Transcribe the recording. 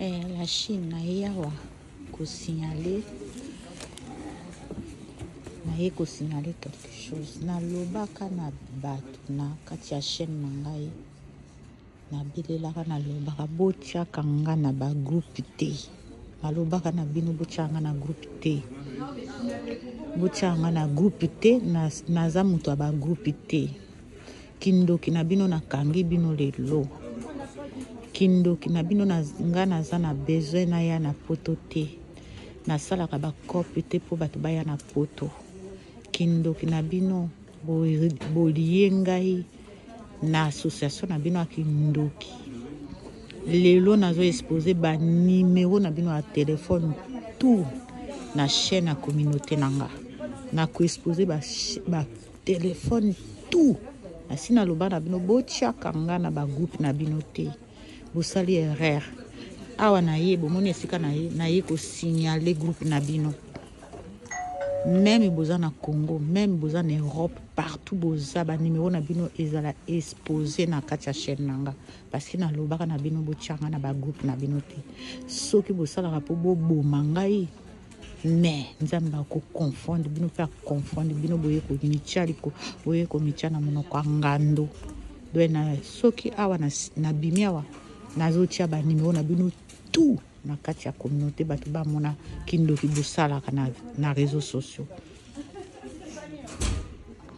Eh, la Chine naye awa kosignale naye kosignale quelque chose nalobaka na bato na kati ya chaîne na ngai nabelelaka nalobaka botyaka nga na bagroupe te nalobaka na bino botyaka nga na groupe te botyaka nga na groupe te naza moto ya bagroupe te Kindoki na bino na kangi bino lelo. Kindoki na bino na nga naza na besoin na ya na poto te. Nasalaka ba cop te po bato baya na poto. Kindoki na bino bolie ngai na association na bino ya kindoki. Lelo nazo expose ba numero na bino ya telefone tout na chaîne ya communauté na nga. Na ko expose ba, ba Telephone tout asi na loba na bino botiaka nga na ba groupe na bino te bosali erreur awa na ye bomoni esika na ye na ye kosignale groupe na bino meme boza na congo meme boza na europe partout boza banimero na bino ezala expose na kati ya chaîne na nga parceke nalobaka na bino botyanga na bagroupe na bino te soki bosalaka mpo boboma ngai mais nzambe akoconfonde bino mpe aconfonde bino boye komitya liko boye komitya na monoko ya ngando doye na soki awa nabimi awa nazotya banimero na bino tout na kati ya communauté bato bamona kindoki bosalaka na, na réseau sociaux